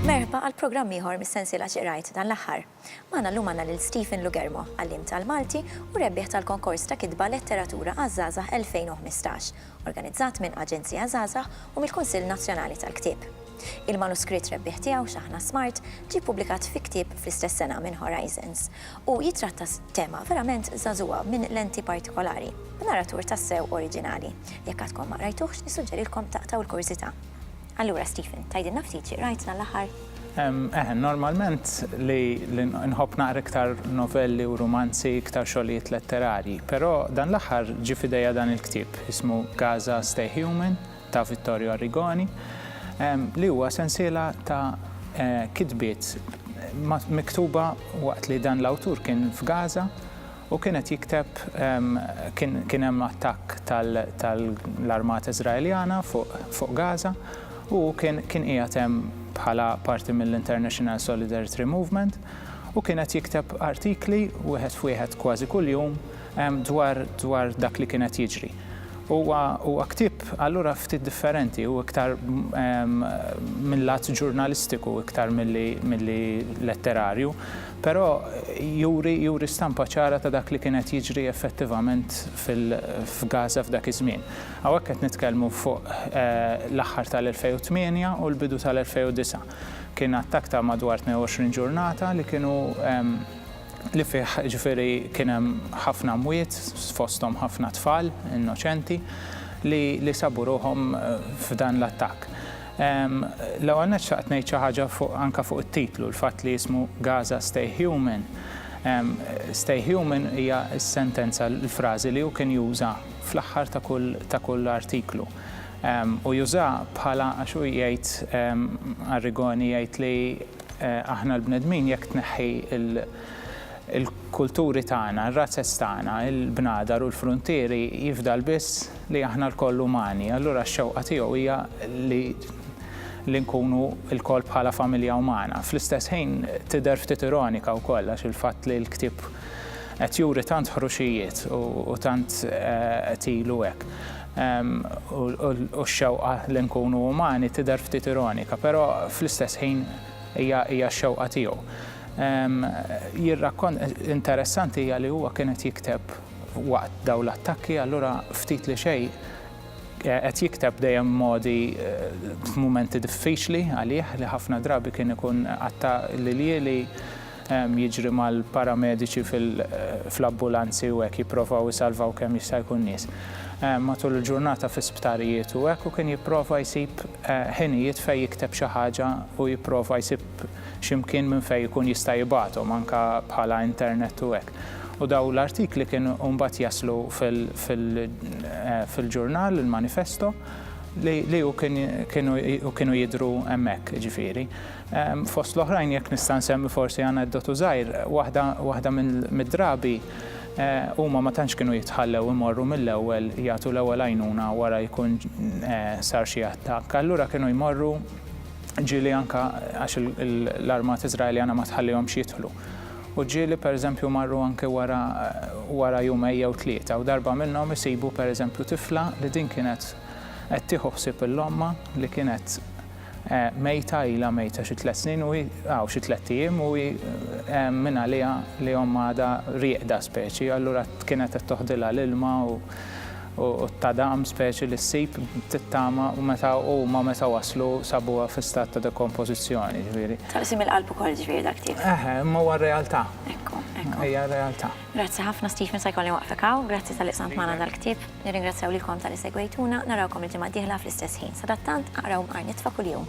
Merħba għal programm ieħor mis-sensiela X'qrajt dan l-aħħar. Magħna llum għandna lil Stephen Lugermo, għalliem tal-Malti u rebbieħ tal-konkors ta' kitba Letteratura għaż-Żgħażagħ 2015, organizzat minn Aġenzija Żgħażagħ u mill-Kunsill Nazzjonali tal-Ktieb. Il-manuskritt rebbieħ tiegħu X'Aħna Smart ġie ppubblikat fi ktieb fl-istess sena minn Horizons u jittratta tema verament żagħżugħa minn lenti partikolari, b'naratur tassew oriġinali. Jekk għadkom ma qrajtuhx, nissuġġerilkom taqtgħu l-kurżità. Allura Stephen, tgħidilna ftit xi qrajtna l-aħħar? Eħe, normalment li nħobb naqra iktar novelli u rumanzi, iktar xogħlijiet letterarji, però dan l-aħħar ġie f'idejja dan il-ktieb ismu Gaza Stay Human ta' Vittorio Arrigoni, li huwa sensiela ta' kitbiet miktuba waqt li dan l-awtur kien f'Gaza. U kien qed jikteb, kien hemm attakk tal-armata Iżraeljana fuq Gaza u hu kien qiegħed hemm bħala parti mill-International Solidarity Movement u kien qed jikteb artikli wieħed f'wieħed kważi kuljum dwar dak li kien qed jiġri. Huwa ktieb allura ftit differenti, hu iktar minn lat ġurnalistiku iktar milli letterarju. Però juri juri stampa ċara ta' dak li kien qed jiġri effettivament fil f'Gaza f'dak iż-żmien. Hawnhekk qed nitkellmu fuq l-aħħar tal-2008 u l-bidu tal-2009. Kien attakk ta' madwar 22 ġurnata li kienu li fih ġifieri kien hemm ħafna mwiet fosthom ħafna tfal innoċenti li li sabu ruħhom f'dan l-attakk. L-ewwel nett xtaqt ngħid xi ħaġa fuq anke fuq it-titlu, l-fatt li jismu Gaza Stay Human. Stay Human hija s-sentenza, l-frażi li hu kien juża fl-aħħar ta' kull ta' kull artiklu. U jużaha bħala għax hu jgħid Arrigoni jgħid li aħna l-bnedmin jekk tneħħi l-kulturi tagħna, r-razez tagħna, il-bnadar u l-fruntieri jifdal biss li aħna lkoll umani, allura x-xewqa tiegħu hija li li nkunu lkoll bħala familja umana. Fl-istess ħin tidher ftit ironika wkoll għax il-fatt li l-ktieb qed juri tant ħruxijiet u tant qed ilu hekk u x-xewqa li nkunu umani tidher ftit ironika, però fl-istess ħin hija hija x-xewqa tiegħu. Jirrakkont, interessanti hija li huwa kien qed jikteb, Waqt dawn l-attakki allura ftit li xejn qed jikteb dejjem modi f'mumenti diffiċli għalih li ħafna drabi kien ikun qatta' l-iljieli jiġri mal-paramediċi fl-abbulanzi u hekk jipprovaw isalvaw kemm jista' jkun nies matul il-ġurnata fi sptarijiet u hekk u kien jipprova jsib ħinijiet fejn jikteb xi ħaġa u jipprova jsib xi mkien minn fejn ikun jista' jibgħathom anke bħala internet u hekk. U dawn l-artikli kienu mbagħad jaslu fil-ġurnal, il-manifesto, li u kienu jidhru hemmhekk, jiġifieri. Fost l-oħrajn jekk nista' nsemmi forsi aneddotu żgħir, waħda mid-drabi huma ma tantx kienu jitħallew imorru mill-ewwel jagħtu l-ewwel għajnuna wara jkun sar xi attakk. Allura kienu jmorru, ġieli anke għax l-armata Iżraeljana ma tħallihomx jidħlu. U ġieli pereżempju marru anke wara wara jumejn jew tlieta u darba minnhom isibu pereżempju tifla li din kienet qed tieħu ħsieb il-ommha li kienet mejta ilha mejta xi tliet snin u hi aw xi tliet ijiem u hi mingħaliha li ommha għadha rieqda speċi allura kienet qed toħdilha l-ilma u u ta' daqm speċi li ssib t-tama u meta huma meta waslu sabuha fi stat ta' dekompożizzjoni, ġifieri. Taqsim il-qalb ukoll ġifieri dak tiegħek. Eħe, imma huwa r-realtà. Ekku, ekku. Hija r-realtà. Grazzi ħafna Stephen sa jkolli nwaqfek hawn. Grazzi talli qsamt magħna dal-ktieb. Nirringrazzjaw lilkom talli segwejtuna. Narawkom il-ġimgħa d-dieħla fl-istess ħin. Sadattant, aqraw mqar nitfa' kuljum.